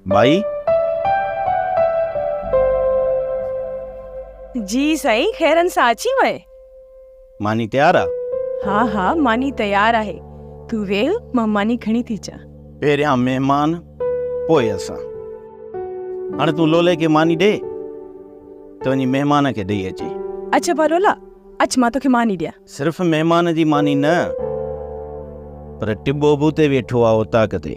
مائي! جي سائين خيرن سان اچي وئي. ماني تيار آ؟ ها ها ماني تيار آهي تون ويهه مان ماني کڻي ٿي اچان. پهريان مهمان پوء اسان. هاڻي تون لولي کي ماني ڏي ته وڃي مهمان کي ڏئي اچي. اچ ابا لولا اچ مان توکي ماني ڏيان. صرف مهمان جي ماني نه پر ٽٻو به اتي ويٺو آ اوطاق تي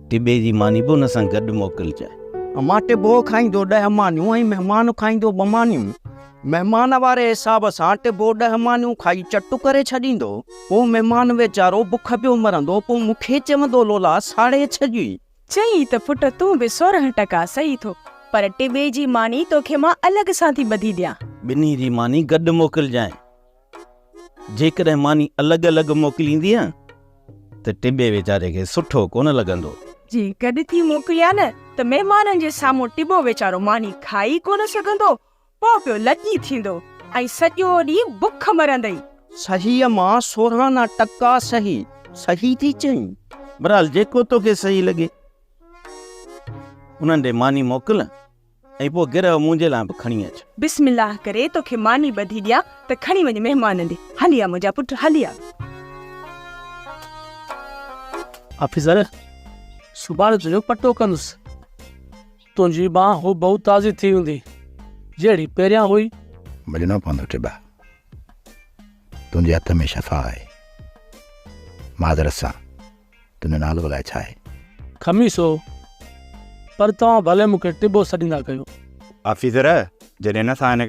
ٽٻي جي ماني به ان سان گڏ موڪلجانء. امان ٽٻو کائيندو ڏهه مانيون ۽ مهمان کائيندو ٻه مانيون. مهمان واري حساب سان ٽبو ڏهه مانيون کائي چٽ ڪري ڇڏيندو. پوء مهمان ويچارو بک پيو مرندو. پوء مون کي چوندو لولا ساڙي ڇڄي. چئين ته پٽ تون به سورهن ٽڪا سهي ٿو پر ٽٻي جي ماني توکي مان الڳ سان ٿي ٻڌي ڏيان. ٻنهي جي ماني گڏ موڪلجانء. جيڪڏهن ماني الڳ الڳ موڪليندينء ته ٽٻي ويچاري کي سٺو ڪونه لڳندو. جي گڏ ٿي موڪليان ته مهمانن جي سامهون ٽٻو ويچارو ماني کائي ڪونه سگهندو. پوء پيو لڄي ٿيندو ۽ سڄو ڏينهن بک مرندئي. سهيء مان سورهان آنا ٽڪا سهي، سهي ٿي چئين. بهرحال جيڪو توکي سهي لڳي، انهن ڏي ماني موڪل ۽ پوء گرهه منهنجي لاء به کڻي اچ. بسم الله ڪري توکي ماني ٻڌي ڏيان ته کڻي وڃ مهمانن ڏي. هلي آ منهنجا پٽ، هلي آ. آفيسر، سڀاڻي تنهنجو پٽو ڪندس. تنهنجي ٻانهن هوبهو تازي ٿي هوندي، جهڙي پهريان هئي. ڀڄڻو پوندو ٽٻا، تنهنجي هٿ ۾ شفا آهي. معذرت سان، تنهنجو نالو الائي ڇا آهي؟ خميسو، پر توهان ڀلي مون کي ٽٻو سڏيندا ڪيو. آفيسر، جڏهن اسان هن.